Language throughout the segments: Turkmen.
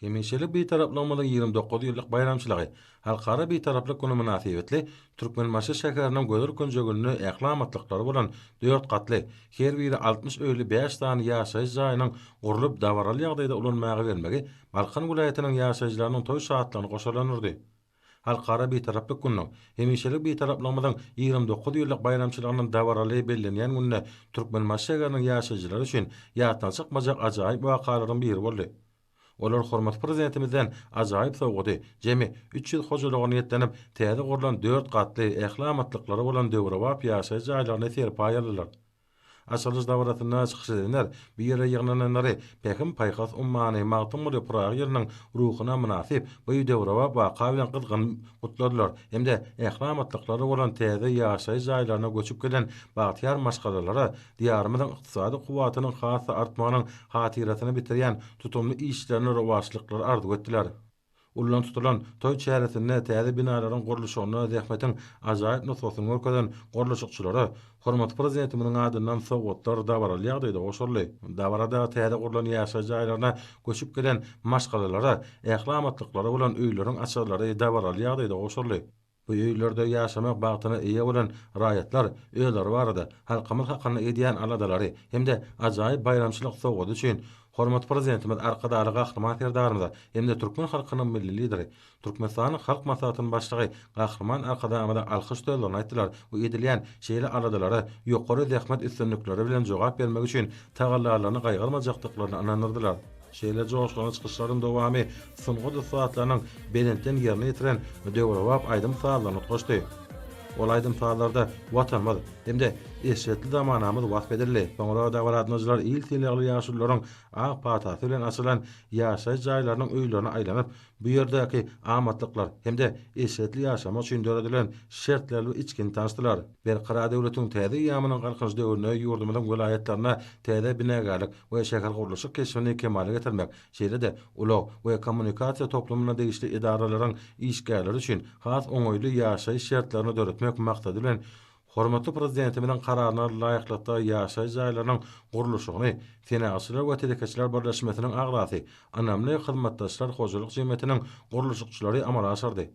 Hemişelik Bitaraplygymyzyň ýigrimi dokuz ýyllyk baýramçylygy, Halkara Bitaraplyk güni mynasybetli Türkmenbaşy şäheriniň gözel künjeginde ähli amatlyklary bolan dört gatly, her biri altmyş öýli bäş sany ýaşaýyş jaýynyň gurlup, dabaraly ýagdaýda ulanmaga bermegi Balkan welaýatynyň ýaşaýjylarynyň toý şatlygyny goşalandyrdy. Halkara Bitaraplyk gününiň, hemişelik Bitaraplygymyzyň ýigrimi dokuz ýyllyk baýramçylygynyň dabaraly bellenýän gününe Türkmenbaşy şäheriniň ýaşaýjylary üçin ýatdan çykmajak ajaýyp wakalaryň biri boldy. Olar hormatly Prezidentimizden ajaýyp sowgady, jemi üç ýüz hojalyga niýetlenip täze gurlan dört gatly, ähli amatlyklary bolan döwrebap ýaşaýyş jaýlaryny serpaý aldylar. Açylyş dabarasynda çykyş edenler bu ýere ýygnananlary Pähim-paýhas ummany Magtymguly Pyragy ýylynyň ruhuna mynasyp bu döwrebap waka bilen gyzgyn gutladylar hem-de ähli amatlyklary bolan täze ýaşaýyş jaýlaryna göçüp gelen bagtyýar maşgalalara Diýarymyzyň ykdysady kuwwatynyň has-da artmagynyň hatyrasyna bitirýän tutumly işlerine rowaçlyklar arzuw etdiler. Ullaň tutulan toý çäresinde täze binalaryň gurluşygynda zähmetiň ajaýyp nusgasyny görkezen gurluşykçylara hormatly Prezidentimiziň adyndan sowgatlar dabaraly ýagdaýda goşuldy. Dabarada täze gurlan ýaşaýyş jaýlaryna göçüp gelen maşgalalara ähli amatlyklary bolan öýleriň açarlary dabaraly ýagdaýda goşuldy. Bu öýlerde ýaşamak bagtyna eýe bolan raýatlar özleri barada, halkymyz hakynda edýän aladalary hem-de ajaýyp baýramçylyk sowgady üçin Hormatly Prezidentimiz Arkadagly Gahryman Serdarymyza hem-de türkmen halkynyň Milli Lideri, Türkmenistanyň Halk Maslahatynyň Başlygy Gahryman Arkadagymyza alkyş sözlerini aýtdylar we edilýän şeýle aladalara ýokary zähmet üstünlikleri bilen jogap bermek üçin tagallalaryny gaýgyrmajakdyklaryna ynandyrdylar. Şeýle joşgunly çykyşlaryň dowamy sungat ussatlarynyň belentden ýerine ýetiren döwrebap aýdym-sazlaryny utgaşdy. Ol aýdym-sazlarda Watanymyz hem-de eşretli zamanamyz wasp edildi. Soňra dabaragatnaşyjylar il sylagly ýaşulularyň ak patasy bilen açylan ýaşaýyş jaýlarynyň öýlerine aýlanyp, Bu ýerdäki amatlyklar hem-de eşretli ýaşamak üçin döredilen şertler we içgin tanyşdylar. Berkarar döwletiň täze eýýamynyň Galkynyş döwründe ýurdumyzyň welaýatlarynda täze binagärlik we şähergurluşyk keşbini kemala getirmek, şeýle-de ulag we kommunikasiýa toplumyna degişli edaralaryň işgärleri üçin has oňaýly ýaşaýyş şertlerini döretmek maksady bilen, Hormatly Prezidentimiziň Kararyna laýyklykda ýaşaýyş jaýlarynyň gurluşygyny Senagatçylar we telekeçiler birleşmesiniň agzasy Ynamly hyzmatdaşlar hojalyk jemgyýetiniň gurluşykçylary amala aşyrdy.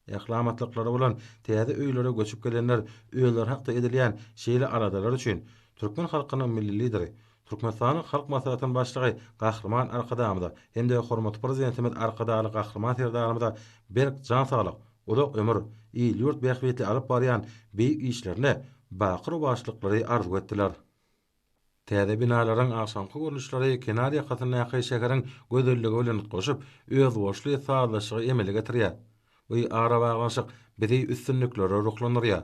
Ähli amatlyklary bolan täze öýlere göçüp gelenler özleri hakda edilýän şeýle aladalar üçin türkmen halkynyň Milli Lideri, Türkmenistanyň Halk Maslahatynyň Başlygy Gahryman Arkadagymyza hem-de hormatly Prezidentimiz Arkadagly Gahryman Serdarymyza berk jan saglyk, uzak ömür, il-ýurt bähbitli alyp barýan beýik işlerine baky rowaçlyklary arzuw etdiler. Täze binalaryň agşamky görnüşleri kenar ýakasyndaky şäheriň gözelligi bilen utgaşyp, özboluşly sazlaşygy emele getirýär. Bu arabaglanyşyk bizi üstünliklere ruhlandyrýar.